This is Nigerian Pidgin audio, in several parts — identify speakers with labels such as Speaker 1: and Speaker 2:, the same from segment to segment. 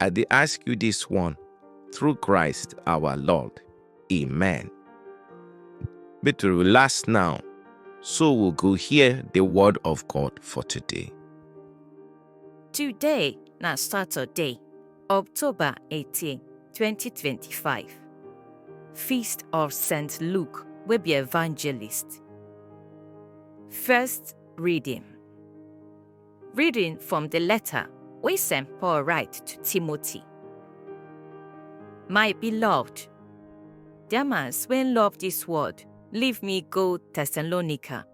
Speaker 1: I dey ask you this one through Christ our Lord. Amen. Make to relax now, so we go hear the word of God for today. Today na Saturday, October 18, 2025. Feast of St. Luke wey be evangelist. First reading. Reading from the letter wey St. Paul write to Timothy. My beloved, Demas wey love this world, leave me go Thessalonica.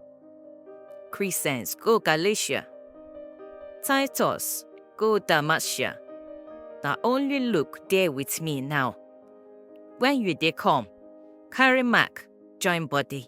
Speaker 1: Crescens go Galatia. Titus go Dalmatia. Na only Luke dey with me now. When you dey come, carry Mark join body.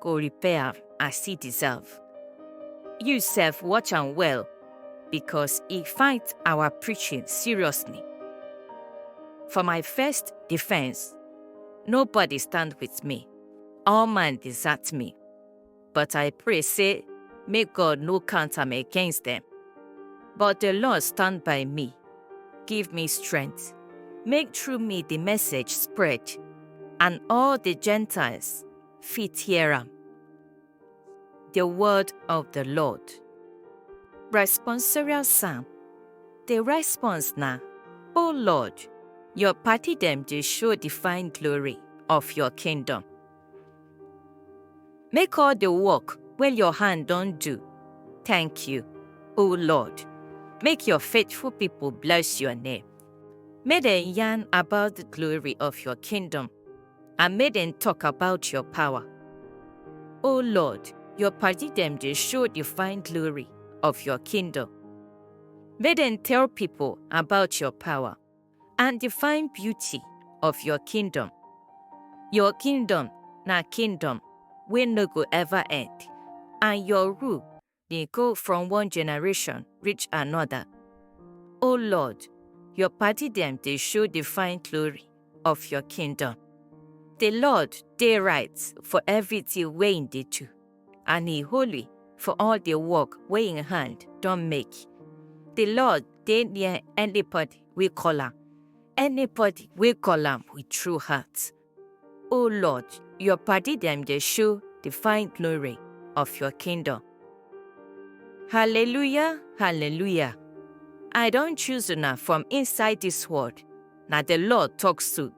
Speaker 1: go repair am as e deserve. You sef watch am well because e fight our preaching seriously. For my first defense, nobody stand with me. All man desert me. But I pray say make God no count am against them. But the Lord stand by me, give me strength, make through me the message spread, and all the Gentiles fit hear am. The word of the Lord. Responsorial Psalm. The response na, O Lord, your party dem dey show the fine glory of your kingdom. Make all the work wey your hand don do thank you, O Lord. Make your faithful people bless your name. Make dem yarn about the glory of your kingdom and make dem talk about your power. O Lord, your party them they show the fine glory of your kingdom. Make them tell people about your power and the fine beauty of your kingdom. Your kingdom na kingdom wey no go ever end, and your rule dey go from one generation reach another. O Lord, your party dem dey show the fine glory of your kingdom. The Lord dey right for everything wey im dey do, and he holy for all the work wey im hand don make. The Lord dey near anybody wey call am, anybody wey call am with true heart. O Lord, your padi dem dey show the fine glory of your kingdom. Hallelujah, hallelujah. I don choose una from inside this world, na the Lord talk so.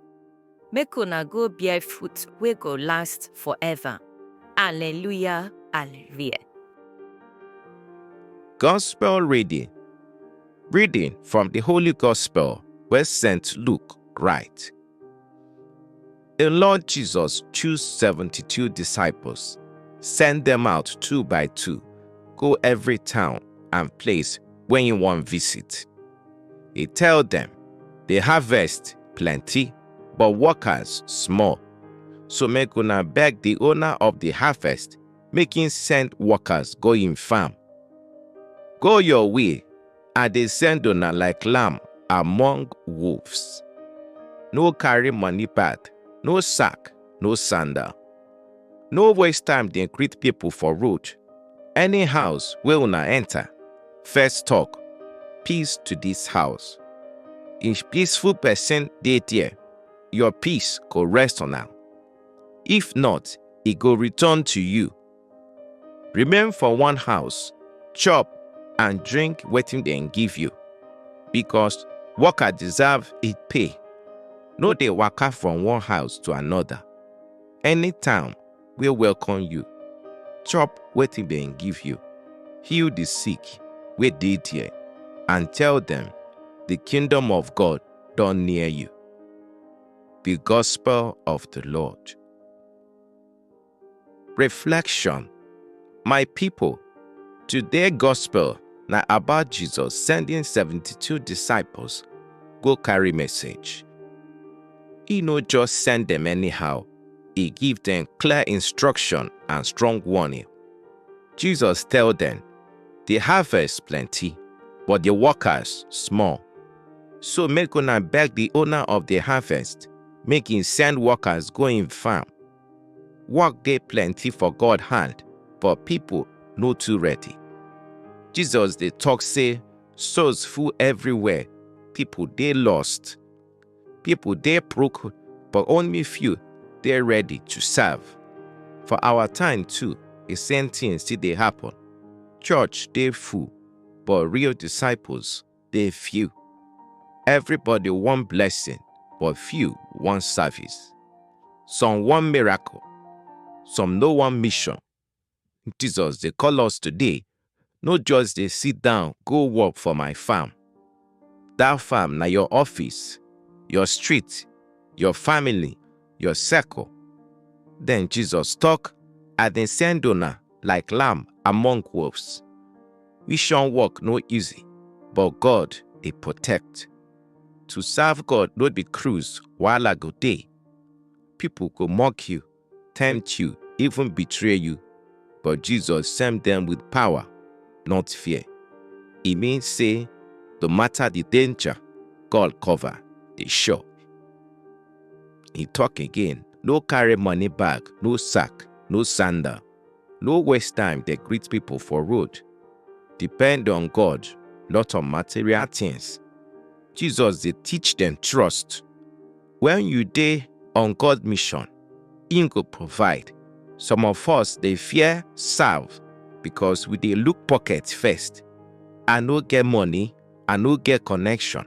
Speaker 1: Make una go bear fruit wey go last forever. Hallelujah, hallelujah. Gospel reading. Reading from the Holy Gospel where St. Luke write. The Lord Jesus chose 72 disciples, send them out two by two, go every town and place when you want visit. He tell them, the harvest plenty, but workers small. So make una beg the owner of the harvest, make him send workers go in farm. Go your way, I dey send una like lamb among wolves. No carry money bag, no sack, no sandal. No waste time dey greet people for road. Any house wey una enter, first talk, peace to this house. If peaceful person dey there, your peace go rest on am. If not, e go return to you. Remain for one house, chop and drink wetin dem give you, because worker deserve e pay. No dey waka from one house to another. Any town wey welcome you, chop wetin dem give you, heal the sick wey dey there, and tell them, the kingdom of God don near you. The gospel of the Lord. Reflection My people, today gospel na about Jesus sending 72 disciples go carry message. He no just send them anyhow, he give them clear instruction and strong warning. Jesus tell them, the harvest plenty, but the workers small. So make una beg the owner of the harvest, make him send workers go in farm Work dey plenty for God hand, but people no too ready. Jesus dey talk say souls full everywhere, people dey lost. People dey broke, but only few dey ready to serve. For our time too, the same thing still dey happen. Church dey full, but real disciples dey few. Everybody wan blessing, but few wan service. Some wan miracle, some no wan mission. Jesus dey call us today, no just dey sit down go work for my farm. That farm na your office, your street, your family, your circle. Then Jesus talk, I dey send una like lamb among wolves. Mission work no easy, but God dey protect. To serve God no be cruise, wahala go dey. People go mock you, tempt you, even betray you. But Jesus send them with power, not fear. E mean say no matter the danger, God cover dey sure. He talk again, no carry money bag, no sack, no sandal. No waste time dey greet people for road. Depend on God, not on material things. Jesus dey teach dem trust. When you dey on God mission, im go provide. Some of us dey fear serve because we dey look pocket first. I no get money, I no get connection.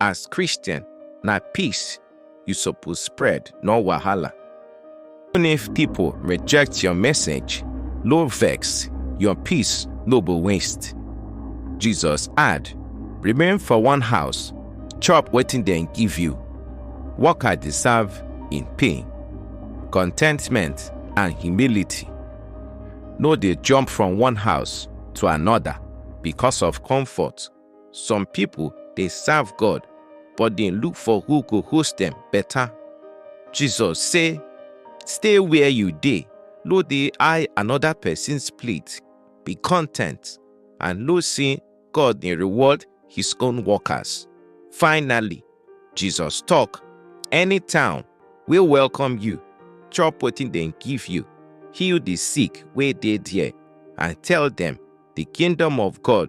Speaker 1: As Christian, na peace you suppose spread, no wahala. Even if people reject your message, no vex, your peace no go waste. Jesus add, Remain for one house, chop wetin dem give you. Worker dey serve in pain, contentment and humility. No dey jump from one house to another because of comfort Some pipo dey serve God but dey look for who go host dem beta. Jesus say, Stay where you dey, no dey eye anoda pesin's plate, be content and know say God dey reward his own workers. Finally, Jesus tok, Any town wey welcome you, chop wetin dem give you, heal di sick wey dey there, and tell dem, Di kingdom of God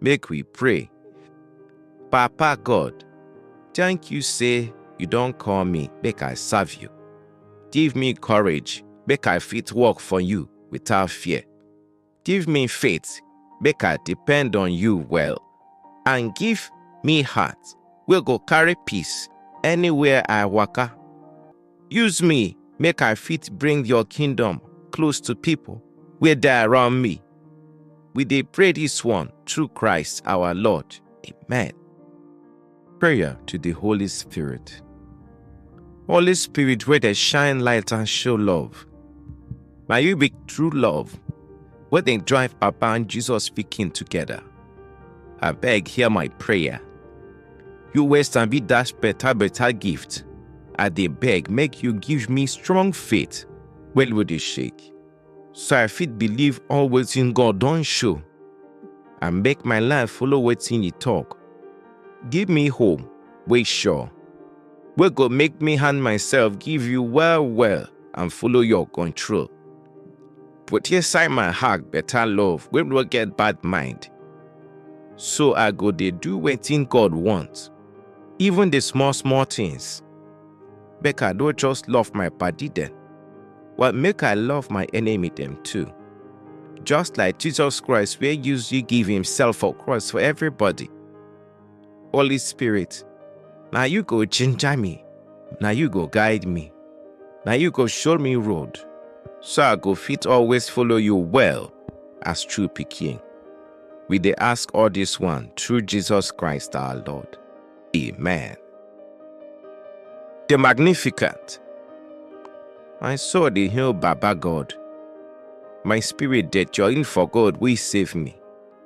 Speaker 1: Make we pray. Papa God, thank you say you don call me make I serve you. Give me courage make I fit work for you without fear. Give me faith make I depend on you well. And give me heart wey go carry peace anywhere I waka. Use me make I fit bring your kingdom close to people wey dey around me. We dey pray this one through Christ our Lord. Amen. Prayer to the Holy Spirit. Holy Spirit, where they shine light and show love. May you be true love, where they drive Papa and Jesus speaking together. I beg, hear my prayer. You wey sabi dash better better gift, I dey beg make you give me strong faith wey no dey shake, so I fit believe all wetin God don show and make my life follow wetin e talk. Give me hope wey sure, wey go make me hand myself give you well well and follow your control. Put inside my heart better love wey no get bad mind. So I go dey do wetin God want, even the small small things. Make I no just love my padi dem, but make I love my enemy dem too. Just like Jesus Christ wey use you give himself for cross for everybody. Holy Spirit, na you go ginger me, na you go guide me, na you go show me road, so I go fit always follow you well as true pikin. We dey ask all this one through Jesus Christ our Lord. Amen. The Magnificent. My soul dey hail Baba God. My spirit dey join for God wey save me.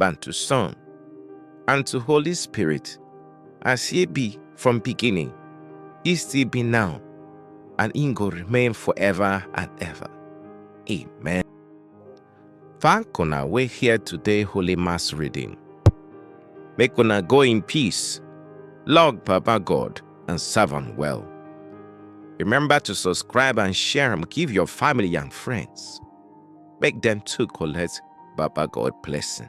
Speaker 1: and to Son, and to Holy Spirit, as he be from beginning, he still be now, and he go remain forever and ever. Amen. Thank una we here today Holy Mass reading. Make una go in peace, log Papa God, and serve him well. Remember to subscribe and share and give your family and friends. make dem too collect baba God blessing.